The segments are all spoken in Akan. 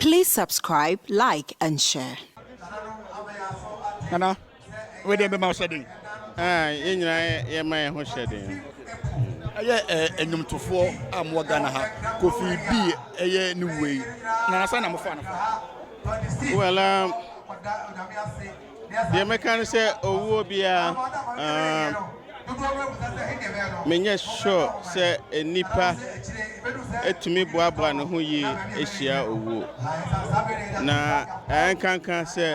Please subscribe like and share. Nana, wei deɛ bɛma hyɛ den. Ah, yɛn nyinaa yɛma yɛn ho hyɛ den. Ɛyɛ ɛnwomtofoɔ a mowɔ Ghana ha, Kofi B ɛyɛ ne wuo yi, na asa na mofa no. Well, um, Deɛ mɛka ne sɛ owuo biara umm menyɛ sure sɛ nnipa tumi boaboa ne ho yie hyia owuo. Na ɛnkanka sɛ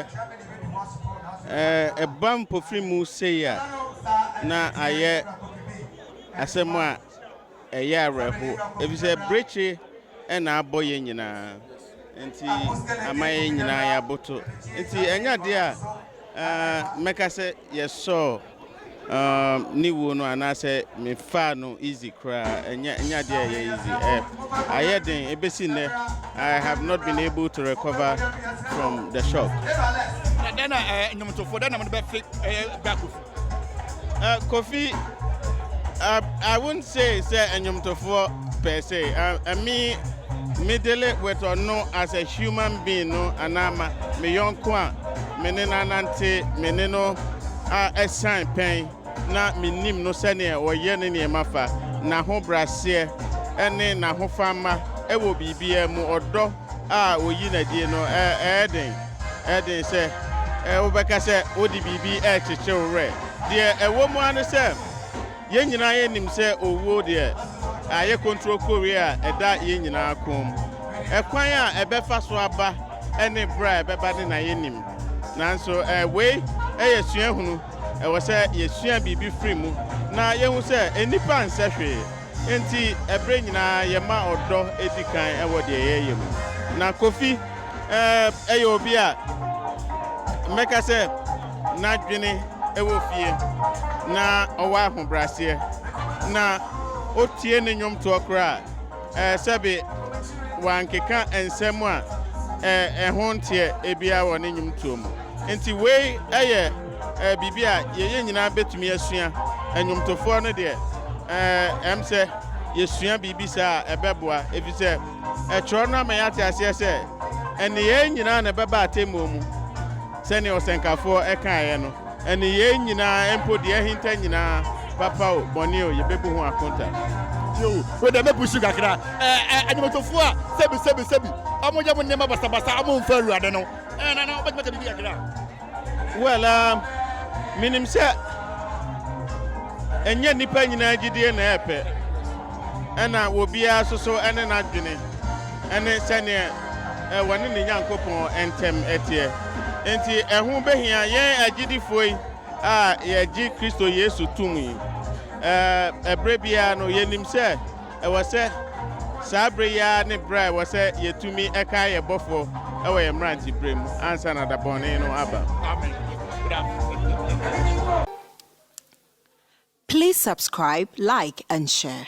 ɛɛ ɛba mpofirimu sei a na ayɛ asɛm a. Ɛyɛ awerɛhow, efisɛ brekye na abɔ yɛn nyinaa nti, ama yɛn nyinaa yɛabotow. Nti ɛnyɛ ade a mɛka sɛ yɛsɔɔ ne wu no anaasɛ mefaa no easy koraa. Ɛnyɛ ɛnyɛ ade a ɛyɛ easy. Ɛ ayɛ den ebesi nnɛ. I have not been able to recover from the shock. Na dɛn na nnwontofo, dɛn na mode bɛfe ɛyɛ Bakufo? Uh, Kofi, uh, I won't say sɛ ɛnyomtofoɔ per se. Uh, uh, me, me dele with ɔno as a human being no anaa ma me yɔnko a me ne no anante me ne no a ɛsan pɛn na menim no sɛdeɛ ɔyɛ ne nneɛma fa n'ahobraseɛ ne n'ahofama ɛwɔ biribiara mu ɔdɔ a oyi no adi no, ɛyɛ den. Ɛyɛ den sɛ wobɛka sɛ wode biribi rekyekye wo werɛ. Deɛ ɛwɔ mu ara ne sɛ, yɛn nyinaa yɛnim sɛ owuo deɛ, ayɛ kontrokowee a ɛda yɛn nyinaa kɔn mu. Ɛkwan a ɛbɛfa so aba ne berɛ a ɛbɛba de na yɛnnim. Nanso wei yɛ suahunu. Ɛwɔ sɛ yɛsua biribi firi mu na yɛhu sɛ nnipa nsɛ hwee. Enti ɛberɛ nyinaa yɛma ɔdɔ di kan wɔ deɛ yɛyɛ mu. Na Kofi ɛɛ yɛ obi a mɛka sɛ n'adwene wɔ fie na ɔwɔ ahobraseɛ na ɔtie ne nnwomtoɔ koraa a sɛbe wankeka nsɛm a ɛho nteɛ biara wɔ ne nnwomtoɔ mu. Enti wei yɛ. Ɛyɛ biribi a yɛyɛ nyinaa bɛtumi asua. Nnwomtofoɔ no deɛ, ɛm sɛ yɛsua biribi saa a, ɛbɛboa, ɛfiri sɛ ɛtwerɛ no ama yɛate aseɛ sɛ, Nneyɛɛ nyinaa na ɛbɛba atɛmmuo mu, sɛdeɛ ɔsɛnkafoɔ kaeɛ no, nneyɛɛ nyinaa, mpo deɛ ahinta nyinaa, papa o, bɔne o, yɛbɛbu ho akonta. Tie o, wei deɛ mɛpushi kakra, Nnwomtofoɔ a sɛbi sɛbi sɛbi wɔyɛ wɔn nneɛma basabasa a wɔmfa Awurade no, ɛɛ, na na wobɛtumi aka biribi kakra? Well ah menim sɛ ɛnyɛ nnipa nyinaa gyidie na ɛyɛ pɛ ɛna obiara nso so ɛne n'adwene ɛne sɛneɛ ɛwɔ ne ne Nyankopɔn ɛntɛm ɛteɛ enti ɛho bɛhia yɛn agyidifoɔ yi a yɛgye Kristo Yesu tom yi ɛɛ ɛberɛ biara no yɛnim sɛ Ɛwɔ sɛ saa bere yi ara ne bere a ɛwɔ sɛ yetumi kae yɛn Bɔfo wɔ yɛn mmerantebere mu ansa na da bɔne no aba. Please subscribe, like and share.